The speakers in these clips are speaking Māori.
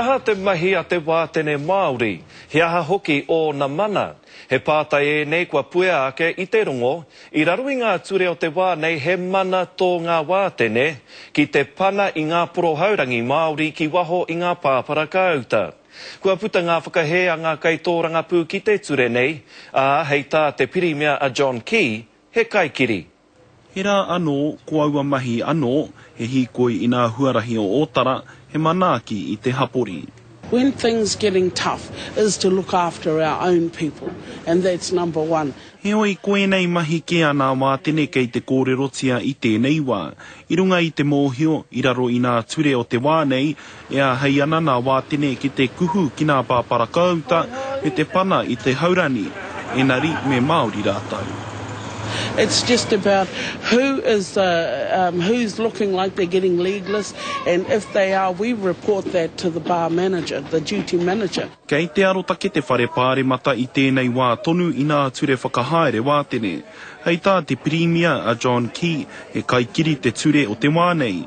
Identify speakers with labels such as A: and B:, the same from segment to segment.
A: He aha te mahi a te wātene Māori? He aha hoki ōna mana? He pātai ēnei kua puea ake i te rongo, i raro i ngā ture o te wā nei he mana tō ngā wātene ki te pana i ngā porohaurangi Māori ki waho i ngā pāpara kāuta. Kua puta ngā whakahē a ngā kaitōrangapū ki te ture nei, ā, hei tā te Pirimia a John Key, he kaikiri. He rā
B: anō, ko aua mahi anō, he hīkoi inā huarahi o Ōtara, he manaaki i te hapori. When things
C: getting tough is to look after our own people and that's number one. Heoi, ko ēnei
B: mahi kē a nā Wātene kei te kōrerotia i tēnei wā. I runga i te mōhio, i raro i nā ture o te wā nei, E āhei ana nā Wātene ki te kuhu ki nā pāparakāuta me te pana i te haurani, ēnari me Māori rātou. It's
C: just about who is um who's looking like they're getting legless and if they are we report that to the bar manager, the duty manager. Kei te arotake
B: te Whare Pāremata i tēnei wā tonu i nā ture whakahaere Wātene. Hei tā te Pirimia a John Key, he kaikiri te ture o te wā nei.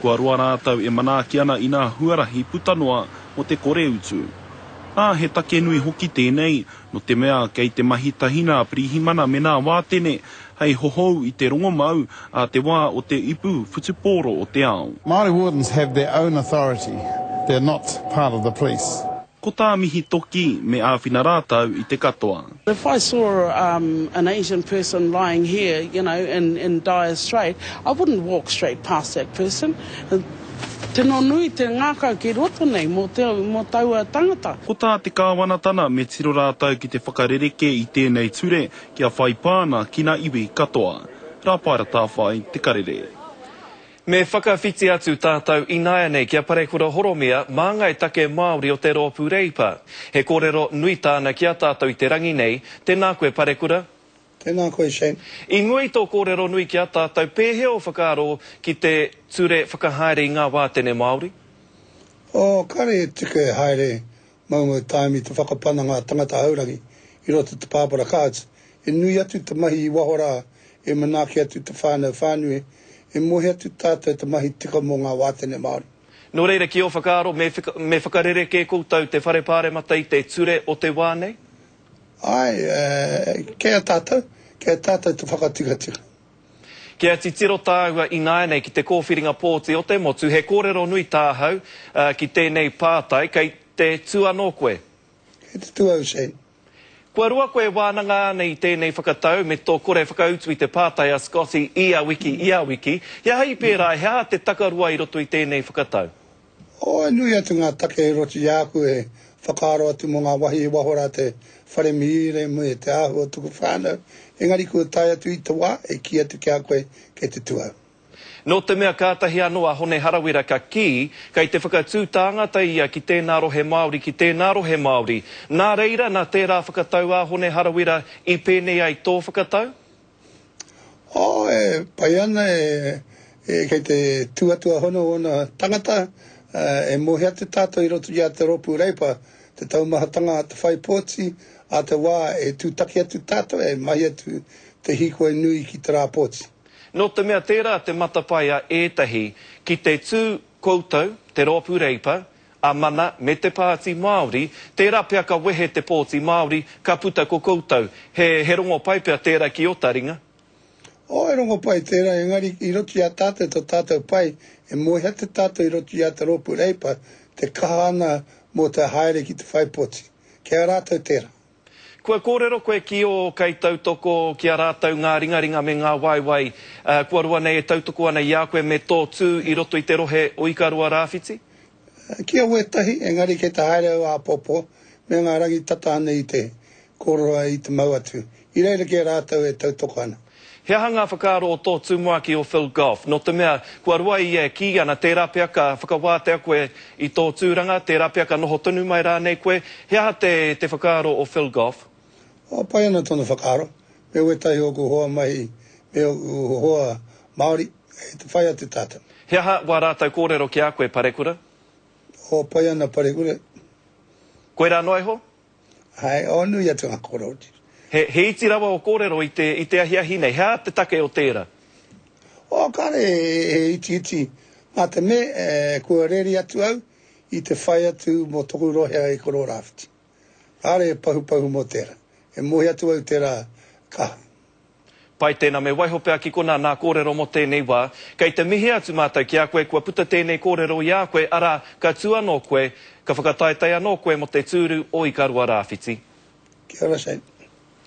B: Kua roa rātou e manaaki ana i nā huarahi puta noa mō te kore utu. Ā, he take nui hoki tēnei, no te mea kei te mahi tahi nā Pirihimana me nā Wātene hei hohou i te rongomau ā te wā o te ipu whutupōro o te ao. Māori wardens have
D: their own authority, they're not part of the police. Ko tā Mihi
B: Toki, me āwhina rātou i te katoa. If I saw
C: an Asian person lying here, you know, in in dire strait, I wouldn't walk straight past that person. Tino nui te ngakau ki roto nei mo mo taua tangata. Ko tā te Kāwanatana,
B: me tiro rātou ki te whakarerekē i tēnei ture kia whai pāna ki na iwi katoa. Rāpaera Tāwhai, Te Karere. Me
A: whakawhiti atu tātou ināianei ki a Parekura Horomia, māngai take Māori o te Rōpū Reipa. He kōrero nui tāna ki a tātou i te rangi nei, tēnā koe Parekura. Tēnā koe
E: Shane. I mua i tō
A: kōrero nui ki a tātou, pēhea ō whakaaro ki te ture whakahaere i ngā wātene Māori? Oh,
E: kāre e tika e haere Maunga Taimi te whakapana ngā tangata haurangi i roto te pāpara kāts e nui atu te mahi i waho rā e manaaki atu te whānau whānui e mohi atu tātou te mahi tika mō ngā wātene Māori. Nō reira ki ō
A: whakaaro me me whakarerekē koutou te whare pāremata i te ture o te wā nei? Āe,
E: kei a tātou, kei a tātou te whakatikatika. Kia
A: titiro tāua ināianei ki te kōwhiringa pōti o te motu, he kōrero nui tāhau ki tēnei pātai, kei te tū anō koe? Kei te tū
E: au, Shane. Kua roa koe
A: e wānanga ana i tēnei whakatau me tō kore whakautu i te pātai a Scotty ia wiki, ia wiki. He aha i pērā, he aha te takaroa i roto i tēnei whakatau? Oh, e nui
E: atu ngā take e roti i a aku e whakaaro atu mō ngā wahi e waho rā te whare mīre me te āhua o tuku whānau, engari kua tae atu i te wā e kī atu ki a koe kei te tū au. Nō te mea
A: kātahi anō a Hone Harawira ka kī, kei te whakatū tāngata ia ki tēnā rohe Māori, ki tēnā rohe Māori. Nā reira, nā tērā whakatau a Hone Harawira i pēnei ai tō whakatau? Oh, e
E: pai ana e, e kei te tūatua hono ōna tangata, uh, e mōhio atu tātou i roto i a te rōpū Reipa, te taumahatanga a te whaipōti, a te wā e tūtaki atu tātou e mahi atu te hīkoi nui ki te rāpōti. Nō te mea
A: tērā te matapae a ētahi ki te tū Koutou, te Roopu Reipa, a Mana me te Paati Maori, tera pea ka wehe te Pooti Maori, ka puta ko koutou. He, he rongo pai pea tera ki Otaringa. Oh, he
E: rongo pai tera, engari i roto i a tatou to tatou pai, e moeha te tatou i roto i a te Roopu Reipa, te kaha ana mo te haere ki te whai poti. Kei a ratou tera. Kua kōrero
A: koe ki ō kaitautoko ki a rātou ngā ringaringa me ngā waewae kua roa nei e tautoko ana i a koe me tō tū i roto i te rohe o Ikaroa Rāwhiti? Ki a
E: wētahi, engari kei te haere au āpōpō me ngā rangi tata anei i te kōrero ai i te mau atu. I reira kē rātou e tautoko ana. He aha
A: ngā whakaaro o tō tumuaki o Phil Goff? Nō te mea, kua roa ia e kī ana, tērā pea ka whakawātea koe i tō tūranga, tērā pea ka noho tonu mai rānei koe. He aha te te whakaaro o Phil Goff? Kua pai ana
E: tōna whakaaro, me wētahi o ōku hoa mahi me ōku hoa Māori, kei te whai atu tātou. He aha wā rātou
A: kōrero ki a koe, Parekura? Kua
E: pai ana, Parekura.
A: Koirā noa iho? Hai o
E: nui atu nga koroti. He iti
A: rawa o korero i te ahiahi nei, he aha te take o tera? O,
E: kare he iti iti, ma te me kua reri atu au i te whai atu mo toku rohe i Kororawhiti. Kare he pahupahu mo tera, e mohi atu au tera kaha. Pai
A: tēnā, me waiho pea ki konā nā kōrero mō tēnei wā. Kei te mihi atu mātou ki a koe kua puta tēnei kōrero i a koe, arā, ka tū anō koe, ka whakataetae
E: anō
A: koe mō te tūru o Ikaroa Rāwhiti. Kia ora Shane.